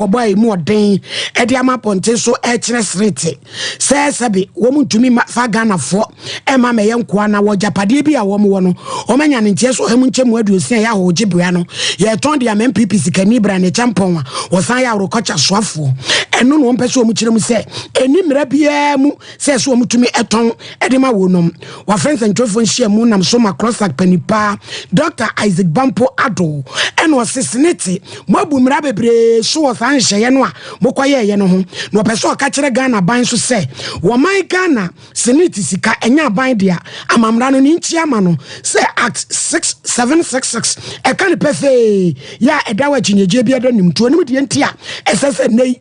wɔbɔ a ɛmu ɔden de ama apɔnten so ɛkyerɛ serete sɛ sɛbe wɔn ntumi fa ghanafoɔ ɛma mɛyɛ nkoa na wɔ gyapadeɛ bi a wɔn wɔ no wɔn anya ne nteɛ so ɔhamu nkyɛmu aduosia yɛ ahɔgye bea no yɛtɔn de ama npp sikani bra ne kyɛmpɔn a wɔsan yɛ aworokɔkya soafoɔ ɛno na wɔn pɛ sɛ wɔn kyerɛ mu sɛ ɛni mmerɛ biara mu sɛ ɛso wɔn tumi tɔn de ma wɔn nom. Wɔafrɛ nsɛntwerɛfoɔ nhyiamu nam so ma Crossac panipaa Dɔkta Isaac Bampo Addo ɛna ɔse sene te mo abu mmara bebree so wɔ saa nhyehyɛeɛ no a mokɔyɛɛyɛ no ho na ɔpɛ sɛ ɔka kyerɛ Ghana aban nso sɛ wɔman Ghana sene te sika ɛnyɛ aban dea ama mmara no ne nkyi ama no sɛ Act 6766 ɛka ne pɛfee yɛ a ɛda wɔ akyinnyegyeɛ bi ɛda nim nti onim deɛ nti a ɛsɛ sɛ nnɛ yi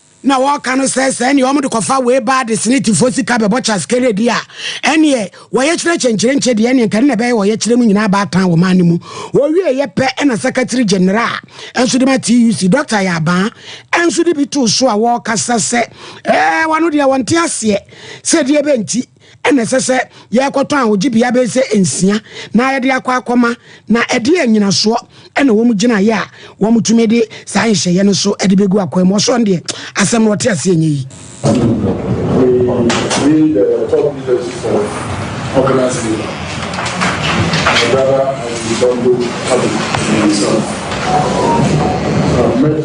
na wɔka no sɛ sɛ ɛneɛ wɔn de kɔfa wei baa de senetifoɔ sika bɛbɔ Charles Kerry deɛ a ɛneɛ wɔyɛkyerɛ kyenkyerenkye deɛ ɛneɛ nka ne na ɛbɛyɛ wɔyɛkyerɛ no nyinaa aba atan wɔn ano mu wɔwie yɛ pɛ ɛna Secretary General nso de ma TUC Dr. Yabaa ɛnso de bi too so a wɔkasa sɛ ɛɛ wɔn deɛ wɔn te aseɛ sɛ deɛ bɛnti na ɛsɛ sɛ yɛkɔtɔn a ogye bea bɛyɛ sɛ nsia na yɛde akɔ akɔma, na ɛdeɛn nnyinasoɔ na wɔn gyina yɛ a wɔtumi de saa nhyehyɛeɛ no so de bɛgu akwan mu? Ɔsoro no deɛ asɛm no ɔte aseɛ nyɛ yie. Being the top leadership of organized labor, my brother has become both public and himself.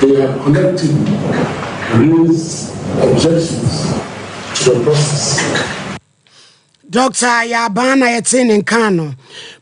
They have collectively raised objections to the process. Dɔkta Yɛabaa na yɛtee ne nka no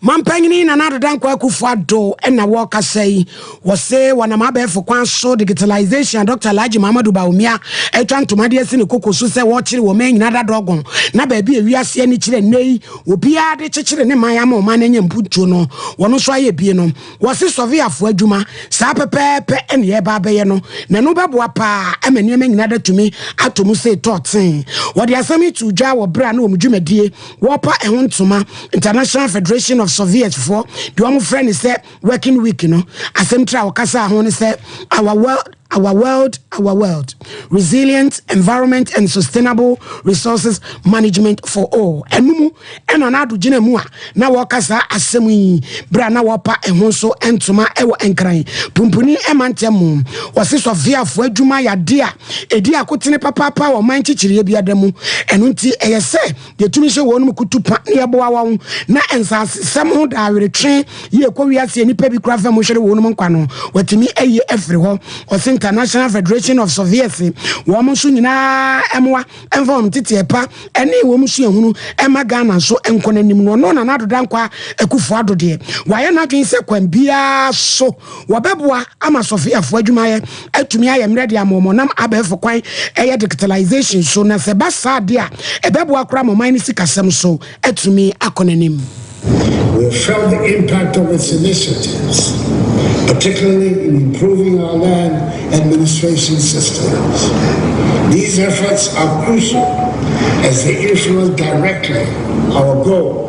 mampanyini Nana Ado Dankwa Akufo Addo na wɔkasa yi wɔ se wɔnam abɛɛfo kwan so digitalization a Dɔkta Alhaji Muhammadu Bawumia atwa ntoma de asi ne koko so sɛ wɔkyere wɔ man nyina dadɔgon na baabi a wiase ani kyerɛ nnɛ yi obiara de kyekyere ne man ama ɔman no anya mpuntuo no wɔn nso ayɛ bie no Wɔse sɔveafoɔ adwuma, saa pɛpɛɛpɛ na yɛreba abɛyɛ no, na ɛno bɛboa paa ma nneɛma nyinaa de atumi atɔ mu sei tɔɔ tee. Wɔde asɛm yi too dwa wɔ berɛ a na wɔn dwumadie wɔrepa ɛho ntoma, International Federation of Surveyors-foɔ deɛ wɔfrɛ no sɛ Working Week no. Asɛmtire a wɔkasaa ho ne sɛ Our World Our World, Our World, Resilient Environment and Sustainable Resources Management for All, ɛno mu na Nado gyina mu a na wɔreka saa asɛm yi berɛ a na wɔrepa ɛho so ntoma wɔ Nkran Pumpuni mantam mu. Wɔse sɔfeafoɔ adwuma yɛ adeɛ a ɛdi akotene papaapa wɔ ɔman kyekyereyɛ biara mu, ɛno nti ɛyɛ sɛ Yɛtumi hyɛ wɔnom kutu pa na yɛboa wɔn na nsasesɛm ho daaweretwe yi ɛkɔ wiase a nnipa bi kura fam hwere wɔnom nkwa no, wɔatumi ayi afiri hɔ. Ɔse International Federation of Surveyors wɔn nso nyinaa mmoa mfa wɔn nteteɛ pa ne wɔn suahunu mma Ghana nso nkɔ n'anim no ɔno Nana Addo Dankwa Akufo Addo deɛ wayɛ n'adwene sɛ kwan biara so wɔbɛboa ama sɔfeafoɔ adwumayɛ atumi ayɛ mmerɛ de ama wɔn nam abɛɛfo kwan ɛyɛ digitalization so na sɛ ɛba saa adeɛ a ɛbɛboa koraa ma ɔman no sikasɛm so atumi akɔ n'anim. We have felt the impact of its initiatives, particularly in improving our land administration systems. These efforts are crucial as they influence directly our goal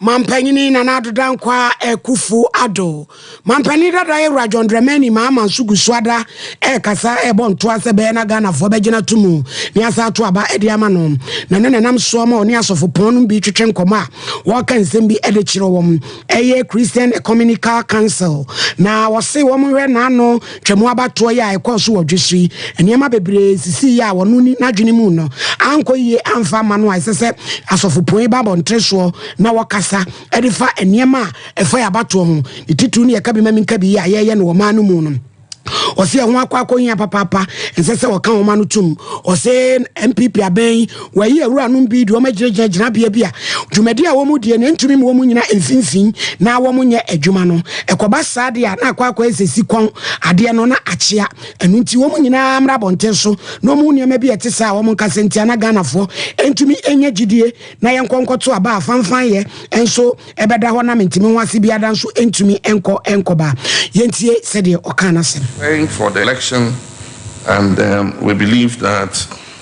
Mampanyini Nana Addo Dankwa Akufo Addo, Mampanin dada Yawura John Dramani Mahama nso gu so ada rekasa rebɔ ntoa sɛ bɛyɛ na Ghanafoɔ bɛgyina to mu ne asan ato aba de ama no na ɛno na ɛnam soɔ ma ɔne asɔfopɔn no bi twetwe nkɔmmɔ a wɔreka nsɛm bi de kyerɛ wɔn ɛyɛ Christian Ecumenical Council na wɔse wɔn hwɛ n'ano Twam abatoɔ yi a ɛkɔɔ so wɔ Dwesri, nneɛma bebree sisiiɛ a ɔno nni n'adwene mu no ankɔ yie amfa amma no a ɛsɛ sɛ asɔfopɔn ba abɔntere soɔ na wɔkasa de fa nneɛma a ɛfa yɛn abatoɔ ho, ne titiriw ne yɛn ka-bi-ma-menka-bi yi a yɛreyɛ no wɔ ɔman no mu no. Ɔse ɛho akɔ akɔhia papaapa, ɛnsɛ sɛ wɔka wɔn ano tom. Ɔse NPP abɛn Wɔayi awuranom bi de wɔn agyinagyina gyinabea bi a dwumadi a wɔdie no ntumi ma wɔnnyina mfimfini na wɔnyɛ adwuma no. Ɛkɔba saa de a, na akɔ akɔyɛ sɛ sikɔn, adeɛ no na akyea. Ɛno nti, wɔn nyinaa mmra abɔnten so na wɔnhu nneɛma bi a ɛte saa a wɔnka sɛ nti a na Ghanafoɔ ntumi nnya gyidie na yɛnkɔ nkɔto aba a fanfanyɛ nso bɛda hɔ na mentumi ho ase biara da nso ntumi nkɔ nkɔba. Yɛntie sɛdeɛ ɔkaa n'asɛm. preparing for the election and um, we believe that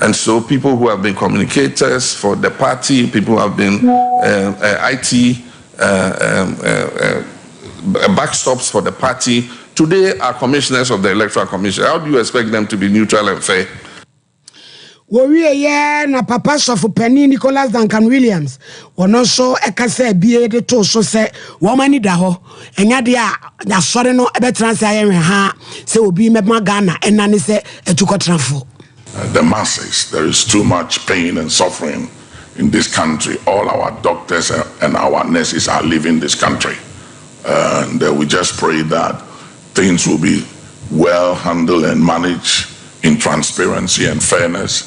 And so people who have been communicators for the party, people who have been um, uh, IT uh, um, uh, uh, backstops for the party, today are commissioners of the Electoral Commission. How do you expect them to be neutral and fair? wɔwieɛ na papa sɔfo panin nicholas duncan williams wɔno nso ɛka sɛ bie de too so sɛ wɔn ani da hɔ ɛnyɛ adeɛ a asɔre no bɛtena ase ayɛ nwehaa sɛ obi mɛma Ghana ɛna ne sɛ atukɔtenafoɔ. The masses there is too much pain and suffering in this country all our doctors and our nurses are leaving this country and we just pray that things will be well handled and managed in transparency and fairness.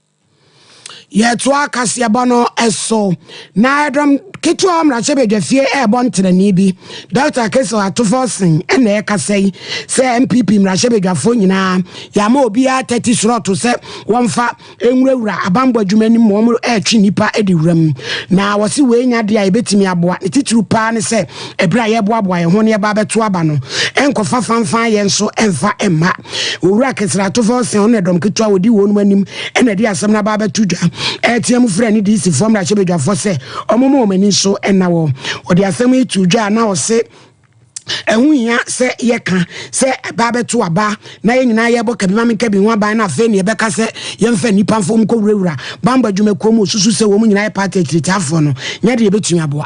Yɛtoa kaseɛbɔ no so na ɛdɔm ketewa wɔ mmarahyɛbadwafie ɛrebɔ ntenani bi. Dɔkta Kesel Atufosing na ɛrekasa yi sɛ NPP mmarahyɛbadwafoɔ nyinaa yɛama obiara 30 slɔto sɛ wɔmfa nwurawura abanbɔ adwuma no mu wɔn ɛretwe nnipa de wura mu. Na wɔse wei nya de a yɛbɛtumi aboa ne titiriw paa ne sɛ ɛberɛ a yɛreboaboa yɛn ho na yɛba abɛto aba no ɛnkɔfa fanfan yɛn nso ɛmfa ɛmma. Owura Keseratofo Ɔse ɔno na dɔm ketewa a ɔdi wɔnom anim na ɛde asɛm no aba abɛto dwa, ɛretea mu frɛ ne DCfoɔ mmarahyɛbadwafoɔ sɛ wɔmma wɔn ani nso nna hɔ. Ɔde asɛm yi too dwa a na ɔse ɛho hia sɛ yɛka sɛ ɛbaa bɛto aba na yɛn nyinaa yɛbɔ kabima me kabi ho aban na afei ne yɛbɛka sɛ yɛmfa nnipa mfa wɔn nkɔwurawura bambɔ adwumakuo mu osusu sɛ wɔn nyinaa yɛ paati akyiritiafoɔ no nyɛ deɛ yɛbɛtumi aboa.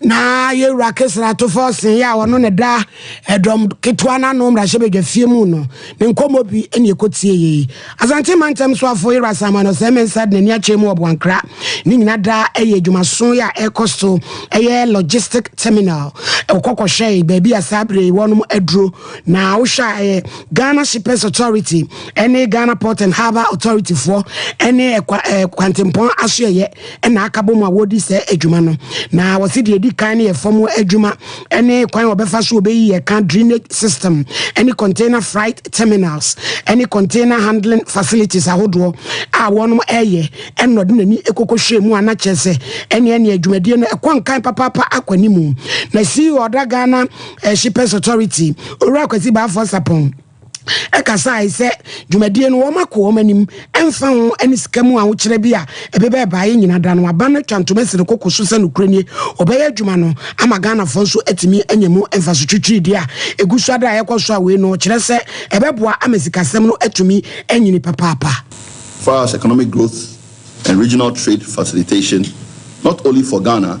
na yɛwura kesratofo ɔsee a ɔno ne da ɛdɔm ketewa no ano mmarahyɛbadwa fie mu no ne nkɔmmɔ bi ne ɛkɔtie yei asante mantam soafo yɛwura samuel no sɛ mensa de n'ani akyɛ mu wɔ boankra ne nyina da ɛyɛ adwumaso yɛ a ɛkɔ so ɛyɛ logistic terminal ɔkɔkɔhwɛe baabi a saa bere wɔnom aduro na wohwɛ a ɛyɛ ghana shippers authority ɛne ghana port and harbour authority foɔ ɛne kwantempɔn asoɛyɛ na aka bom a wɔredi saa adwuma no. Na wɔsi deɛ edi kan no yɛ fam adwuma ne kwan a wɔbɛfa so wɔbɛyi ɛka drainage system ne container freight terminals ne container handling facilities ahodoɔ a wɔn ɛyɛ ɛna ɔde n'ani ekokɔhwɛ mu a na kyerɛ sɛ ɛne ɛne adwumadie no ɛkɔ nkan papaapa akɔ anim. Na CEO ɔda Ghana Shippers Authority Owura Kwasi Baafoɔ Sapɔn ɛkasae sɛ dwumadie no wɔn ako wɔn anim ɛmfa ho ɛne sika mu ahokyerɛ bi a ɛbɛba ɛbaeɛ nyina da no aba no atwa ntoma asi no koko so sɛ nokorɛ nie wɔbɛyɛ adwuma no ama Ghanafoɔ nso atumi anya mu mfaso twitwiridie a ɛgu so ada a ɛkɔ so a wei no ɔkyerɛ sɛ ɛbɛboa ama sikasɛm no atumi anyini papaapa. far as economic growth and regional trade facilitation not only for Ghana,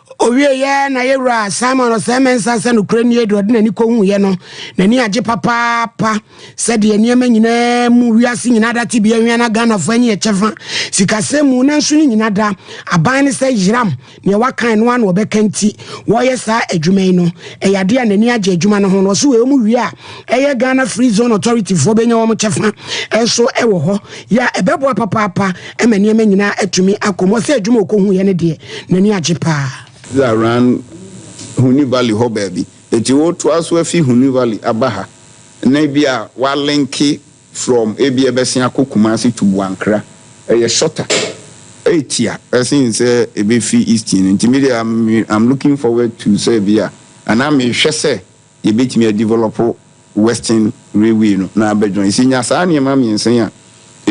Ɔwieeɛ na yɛ wura Simon Osei-Mensah sɛ nokorɛ nie deɛ ɔde n'ani kɔhuuiɛ no, n'ani agye papaapa sɛdeɛ nneɛma nyinaa mu, wiase nyinaa da tebea hwia na Ghanafoɔ ani yɛ kyɛfa sikasɛm mu, nanso ne nyina da aban ne sɛ Yeram neɛ wakan no ara na ɔbɛka nti wɔreyɛ saa adwuma yi no, ɛyɛ adeɛ a n'ani agye adwuma no ho na ɔse wei ɔmu wie a, ɛyɛ Ghana Free Zone Authority foɔ bɛnya wɔn kyɛfa nso wɔ hɔ yɛ a ɛbɛboa papaapa ma nneɛma nyinaa atumi akɔ mu. Ɔsɛ adwuma ɔkɔhuiɛ no deɛ n'ani agye paa. This is around Huni Valley hɔ baabi. Enti wotoa so afi Huni Valley aba ha na ebi a woalenke from ebi a ɛbɛsen akɔ Kumasi to Buankra. Ɛyɛ shorter. Etia ɛsen sɛ ɛbɛfi Easting no. Nti me deɛ I'm looking forward to sɛ ebi a anaa mehwɛ sɛ yɛbɛtumi a develop western railway no na abɛ join. Sɛ yɛnya saa nneɛma mmiɛnsa yi a,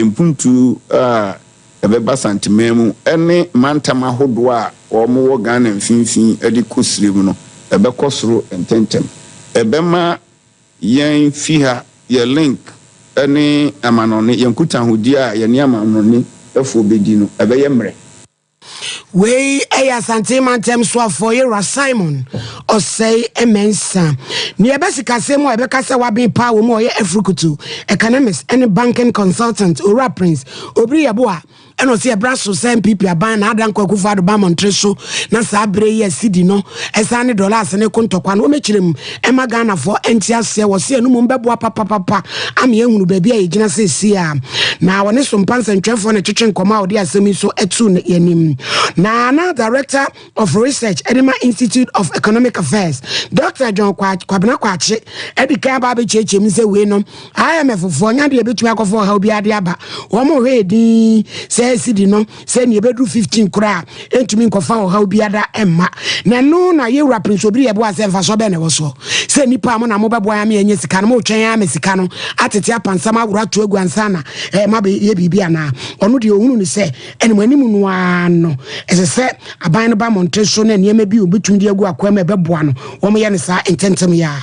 mpuntuo a ɛbɛba Santeman mu ne mantam ahodoɔ a wɔn wɔ Ghana mfimfini de kɔ Sire mu no ɛbɛkɔ soro ntɛntɛm. Ɛbɛma yɛn fi ha yɛ link ne amanɔne, yɛn nkutahodie a yɛne amanɔne foɔ bɛdi no ɛbɛyɛ mmerɛ. Wei yɛ Asante Mantam Soafoɔ Yera Simon Ɔsɛe Mensa. Nea ɛbɛ sikasɛm a ɛbɛka sɛ waben paa wɔ mu ɔyɛ afurukutu, economist ne banking consultant Owura Prince Obiri Yeboah ɛna ɔsi ɛbra so sɛ NPP aban na Adan Kwaku Fado ba mmɔntere so na saa bere yi a sidi no ɛsan ne dɔlaase ne ko ntɔkwa no wɔmɛkyerɛ mu ɛma Ghanafoɔ nte aseɛ wɔ se anumum bɛboa papapapa ama yɛahunu baabi a yɛgyina seesei a. Na ɔne Sompa nsɛntwerɛfoɔ na ɛtwetwe nkɔmmɔ a ɔde asɛm yi so to yɛanim. Na na Director of Research de ma Institute of Economic Affairs, Dr. John Kwabena Kwakye de kan aba abɛkyerɛkyerɛ mu sɛ wei no IMF foɔ nya deɛ ɛbɛtumi akɔfa ɔhaw biara de aba wɔn hwɛ edin sɛ asidi no sɛ nea ɛbɛduru 15 koraa ɛntumi nkɔfa ɔhaw biada mma na ɛno na yɛwura prince obiri yɛboa sɛ mfasoɔ bɛɛ na ɛwɔ soɔ sɛ nnipa a mo na mobɛboa me ɛnyɛ sika no motwɛn ara ma sika no atete apansam aworo ato agu ansa na eh, ma yɛ biribi anaa ɔno deɛ ɔhunu ne sɛ ɛne mo anim no ara no ɛsɛ sɛ aban no ba mmɔnten so na nneɛma bi ɔbɛtumi de agu akoa mu ɛbɛboa no wɔn yɛ no saa ntɛntɛm yɛ a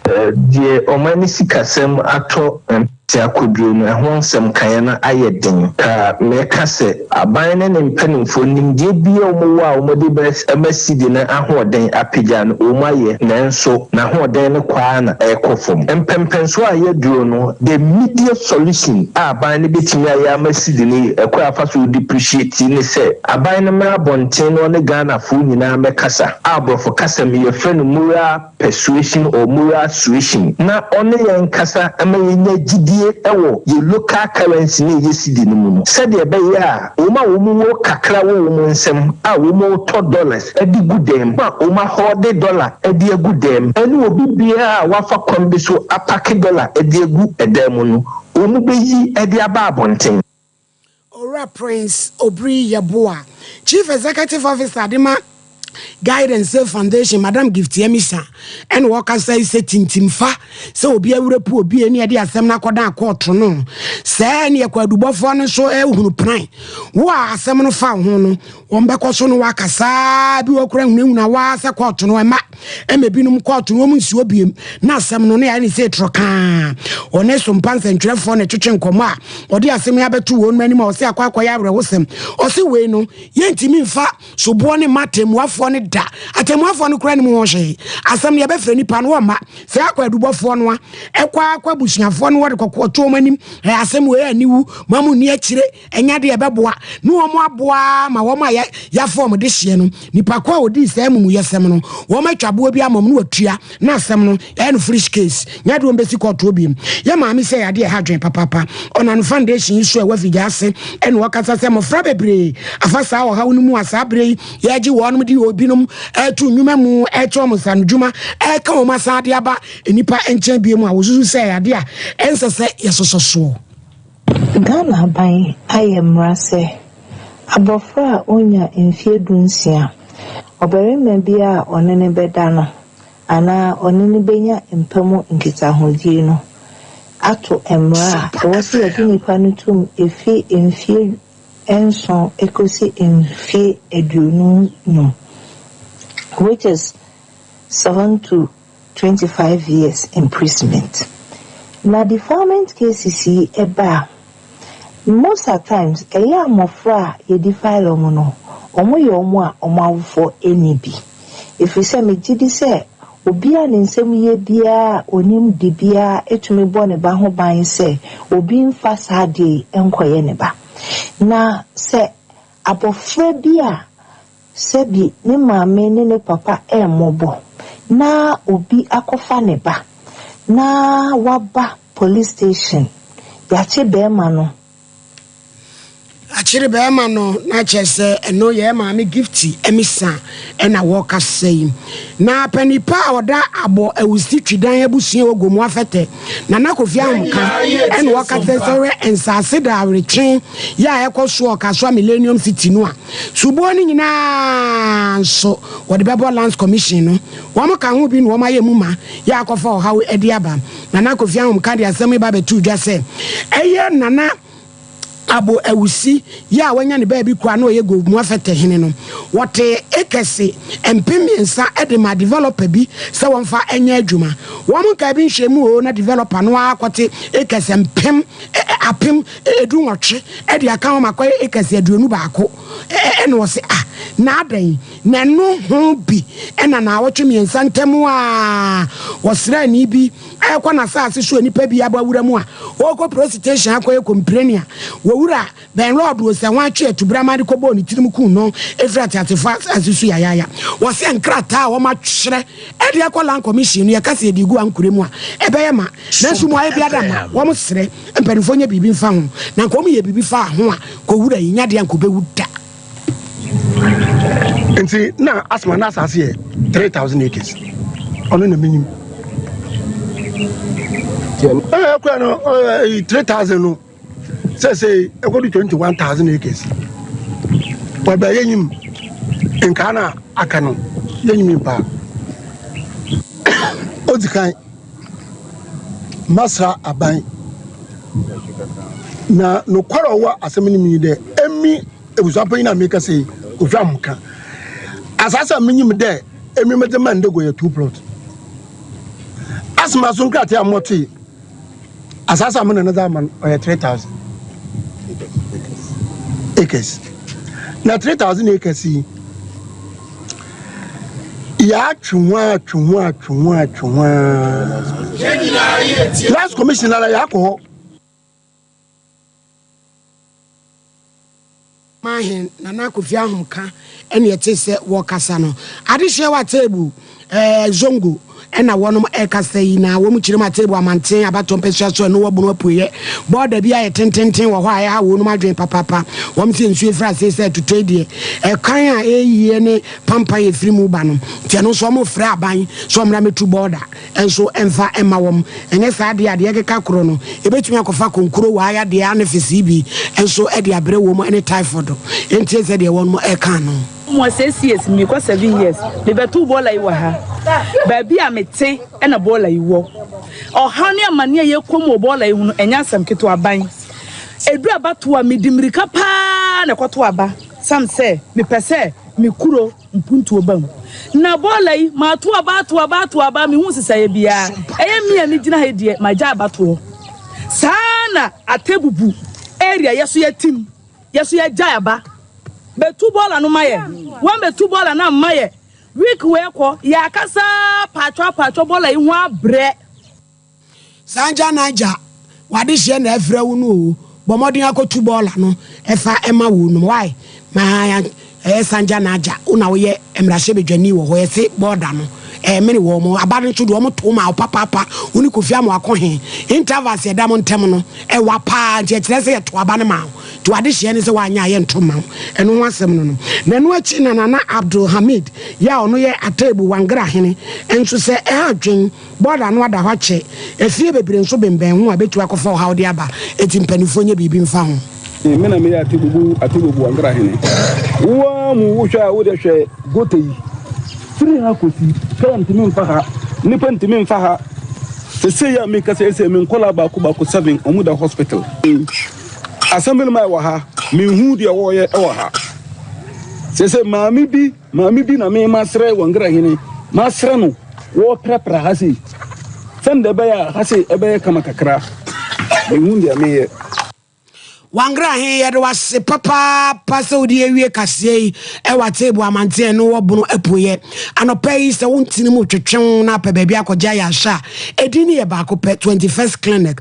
Deɛ wɔn ani sikasɛm atɔ mpete akoduro no, ɛho nsɛm kaeɛ no ayɛ den. Ka mɛka sɛ, aban ne ne mpanimfoɔ, nimdeɛ biara a wɔwɔ a wɔde bɛma sidi no ahoɔden apagya no, wɔn ayɛ, nanso n'ahoɔden no kɔ ara na ɛrekɔ fam. Mpɛnpɛnsoɔ a yɛaduro no, the immediate solution a aban no bɛtumi ayɛ ama sidi no yɛ, ɛkwan a wɔfa so depreciate ne sɛ, aban no mmra abɔnten na ɔne Ghanafoɔ nyinaa mmɛkasa, a borɔfo kasa mu yɛfrɛ no mural, persuasion or moral suasion na ɔne yɛn nkasa ma yɛnya gyidie wɔ yɛn local currency no a ɛyɛ cedi no mu no sɛdeɛ ɛbɛyɛ a wɔn a wɔn wɔ kakra wɔ wɔn nsam a wɔn retɔ dollars de gu dɛm a wɔn ahɔɔde dollar de agu dɛm ɛne obi biara a wafa kwan bi so apake dollar de agu dɛm no wɔn bɛyi de aba abɔnten. Owura Prince Obiri Yeboah, Chief Executive Officer de ma Guide and Save Foundation, Madam Gift Yamisa, ɛna ɔkasa yi sɛ tintim fa sɛ obi awura pu obi ɛne ɛde asɛm no akɔdan akɔɔto no sɛ ɛne ɛkwadubɔfoɔ no nso ɛhunu pran wo a asɛm no fa ho no wɔn bɛkɔ so no waka saa bi wɔ kora hunahuna waa sɛ kɔɔto no ɛma ɛma binom kɔɔto no wɔn nsi obiem na asɛm no ne ayɛ ne sɛ etrɔ kaa ɔne so mpa nsɛntwerɛfoɔ na ɛtwetwe nkɔmɔ a ɔde asɛm yi abɛto wɔn mu anim a ɔsɛ akɔ akɔyɛ awerɛhosɛm ɔsɛ wei no yɛntumi mfa soboɔ ne ma atɛmmuafoɔ no da atɛmmuafoɔ no kora ne mu ho hwee asɛm no yɛbɛfrɛ nipa no wɔmma sɛ akɔ adubɔfoɔ no a ɛkɔ akɔ abusuafoɔ no wɔde kɔkɔɔto wɔn anim ɛyɛ asɛm wei a ne wu ma mu ni akyire Ɛnyɛ deɛ ɛbɛboa ne wɔn aboa ara ma wɔn a yɛafa wɔn de hyeɛ no, nipa ko a ɔdii saa amumuyɛsɛm no, wɔn atwa boɔ bi ama wɔn na wɔtua na asɛm no ɛyɛ no fresh case. Nyɛ deɛ wɔbɛsi kɔɔtoɔ biom. Yɛ maame sɛ adeɛ ɛha adwene papaapa. Ɔnano foundation yi so a ɛwɔ afigya ase ɛna ɔkasa sɛ mmɔfra bebree afa saa ɔhaw no mu a saa berɛ yi yɛregye wɔnom de wɔ binom ɛreto nnwuma mu ɛrekyɛ wɔn nsanodwuma ɛreka wɔn asan de aba nnipa nkyɛn biom a wɔsusu sɛ ɛyɛ adeɛ a ɛnsɛ sɛ yɛsosɔ soɔ. Ghana aban ayɛ mmara sɛ abɔfra a onnya mfeɛ dunsia, ɔbarima biara a ɔne no bɛda no anaa ɔne no bɛnya mpa mu nkitahodie no ato mmara a ɛwɔ sɛ yɛde nipa no tom ɛfiri mfeɛ nson kɔsi mfeɛ aduonum no, which is 7 to. twenty five years imprisonment na defilement cases yi ba a, most at times ɛyɛ a mmɔfra a yɛdefile wɔn no, wɔyɛ wɔn a wɔn awofoɔ nni bi. Ɛfiri sɛ megye di sɛ obi a ne nsam yɛ biara a ɔnim de biara tumi bɔ ne ba ho ban sɛ obi mfa saa adeɛ yi nkɔyɛ ne ba. Na sɛ abɔfra bi a sɛ bi ne maame ne ne papa remmobɔ na obi akɔfa ne ba na waba police station yɛakye bɛɛma no. Akyere bɛɛma no na kyerɛ sɛ ɛno yɛ maame Gifty Amisa ɛna wɔkasa yi. Na panipa a ɔda abɔ awusi twidan abusua wɔ Gomu Afɛtɛ Nana Kofi Ahomka ɛna ɔka kyerɛ sɛ hwɛ nsaase da aweretwe yɛ a ɛkɔ so ɔka so a Millennium City no a Soboɔ no nyinaa nso wɔde bɛbɔ Lands Commission no. Wɔn ka ho bi na wɔn ayɛ mu ma yɛ akɔfa ɔhaw de aba. Nana Kofi Ahomka de asɛm yi ba bɛtoo dwa sɛ, ɛyɛ Nana Abo Awusi yi a wanya ne baabi kura na ɔyɛ Gove Mua Fɛtɛ hene no. Wɔtee acres mpem mmiɛnsa de maa developer bi sɛ wɔmfa nyɛ adwuma. Wɔn nkaa bi nhwɛmu oo na developer no ara kɔte acres mpem apem du nwɔtwe de aka ho ma kɔyɛ acres aduonu baako ɛna ɔse ah na adɛn na ɛno ho bi ɛna na awɔtwe mmiɛnsa ntam a ɔsraani bi ɛkɔ n'asaase so a nipa bi abɔ awura mu a ɔkɔ prositehyin akɔyɛ kɔmpreni a wɔwura bɛn lɔɔdo sɛ ho atwe atubrama de kɔbɔɔ ne tirim kuu no ɛfiri ateatefo asaase so yayaya wɔse nkrataa a wɔatwerɛ ɛde akɔ land commission no yɛka sɛ ɛde gu ankorɛ mu a ɛbɛyɛ ma nanso mu ayɛ biada ma wɔn serɛ Mpanyimfo nyɛ biribi mfa ho, na anka wɔyɛ biribi faa ho a, nka owura yi nyɛ ade a anka obewu da. Nti na Asma n'asase yɛ three thousand acres, ɔno na minyim. Ɛɛ kura no ɛɛ three thousand no sɛsɛɛ ɛkɔdu twenty one thousand acres. Wɔbɛ yɛ nyim nkaa na aka no yɛ nyim paa. Odzi kan. masra aban. Na nokwar a ɔwɔ asɛm no mu nye dɛ, emi ebusuapɛnyin a merekasa yi, ohwam nkã. Asaase a minyim dɛ emi medze maa Ndego yɛ two plot. Asɛm aso nkrataa a motse, asaase a mo nana dze ama no, ɔyɛ three thousand acres. Na three thousand acres yi. yɛatwe ho ara atwe ho ara atwe ho ara atwe ho ara last commission ara yɛakɔ hɔ. Mahen Nana Kofi Ahomka ɛne ɛte sɛ wɔkasa no. Adehyeɛ wɔ Atebu, ɛɛ Zongo. Ɛna wɔnom ɛkasa yi na wɔn kyerem Atebu amanten abatoɔ mpɛsua so ɛno wɔ Bono apueɛ bɔɔda bi a ɛyɛ tententen wɔ hɔ a ɛha wɔnom adwene papaapa. Wɔm se nsuo firi asee sɛ ɛtotɔi deɛ ɛkwan a ɛyie ne pampan a ɛfiri mu ba no nti ɛno nso wɔn frɛ aban sɛ wɔmra mɛtu bɔɔda nso mfa mma wɔm ɛnyɛ saa deɛ a deɛ ɛkeka korɔ no ɛbɛtumi akɔfa konkuro wɔ ayadeɛ anefesee bi nso de abrɛ wɔm ɛne typhoid ntie sɛdeɛ wɔnom ɛka no. Wɔ six years mu rekɔ seven years mebɛtow bɔɔla yi wɔ ha. Baabi a mete na bɔɔla yi wɔ. Ɔhaw ne amanneɛ a yɛkɔ mu wɔ bɔɔla yi ho no, ɛnyɛ asɛm ketewa. Aban edu abatow a, mede mmirika paa na ɛkɔtow aba esiane sɛ mepɛ sɛ me kuro mpuntuo ba mu. Na bɔɔla yi, matow aba, atow aba, atow aba, mehu nsesaeɛ biara. Ɛyɛ me a megyina ha yi deɛ, magyae abatoɔ. Saa ara na Atebubu area yɛ nso yɛatim. Yɛ so yɛ gyae aba. Bɛ tu bɔɔla no ma yɛ. Wɔn bɛ tu bɔɔla no a ma yɛ. Week wei kɔ, yɛ akasa aa paatwɔ a paatwɔ bɔɔla yi ho abrɛ. Sanja Naija, w'adehyeɛ na ɛfrɛ wo no oo, bɔ mmɔden akɔtu bɔɔla no fa ma wɔnom, why? Ma. Ɛɛ Sanja na Aja wo na woyɛ mmarahyɛbadwani wɔ hɔ yɛse bɔɔda no ɛɛmene wɔn mo aba no nso deɛ wɔn too maa wo papaapa wo ne Kofi ama wakɔ he intervals ɛda mo ntɛm no ɛwa paa nti ɛkyerɛ sɛ yɛto aba no maa wo nti wade hyeɛ ne sɛ woanyɛ a yɛnto mma wo ɛno ho asɛm no no na ɛno akyi na Nana Abdul Hamid yɛ a ɔno yɛ Atebu Wangra hene nso sɛ ɛha adwen Bɔda no ada hɔ akyɛ, afie bebree nso bembɛn ho a ebetumi akɔfa ɔhaw de aba, enti mpanyimfo nyɛ biribi mfa ho. Me na meyɛ Atebubu Atebubu Ankara hene. Wo ara mu wo hwɛ a wode hwɛ gota yi firi ha kɔsi kaa ntumi mfa ha, nnipa ntumi mfa ha. Sesei a mekasa yi sei me nkwadaa baako baako seven wɔn da hospital. Assemblyman wɔ ha, menhuu deɛ wɔreyɛ wɔ ha. Sesei maame bi. Maame bi na me masrɛ wɔ Ngra hene, masrɛ no wɔ prapra ha sei, sɛnde ɛbɛyɛ a ha sei ɛbɛyɛ kama kakra, mehu deɛ meyɛ. Wɔ Ngra he, yɛde wo ase papaapa sɛ wode awie kaseɛ yi wɔ Ateebu amanteɛ a ɛno wɔ Bono apueɛ. Anɔpa yi sɛ wo ntini mu twetwe wo na apɛ baabi akɔgya ayɛ ahwɛ a, edin no yɛ baako pɛ, 21st Clinic.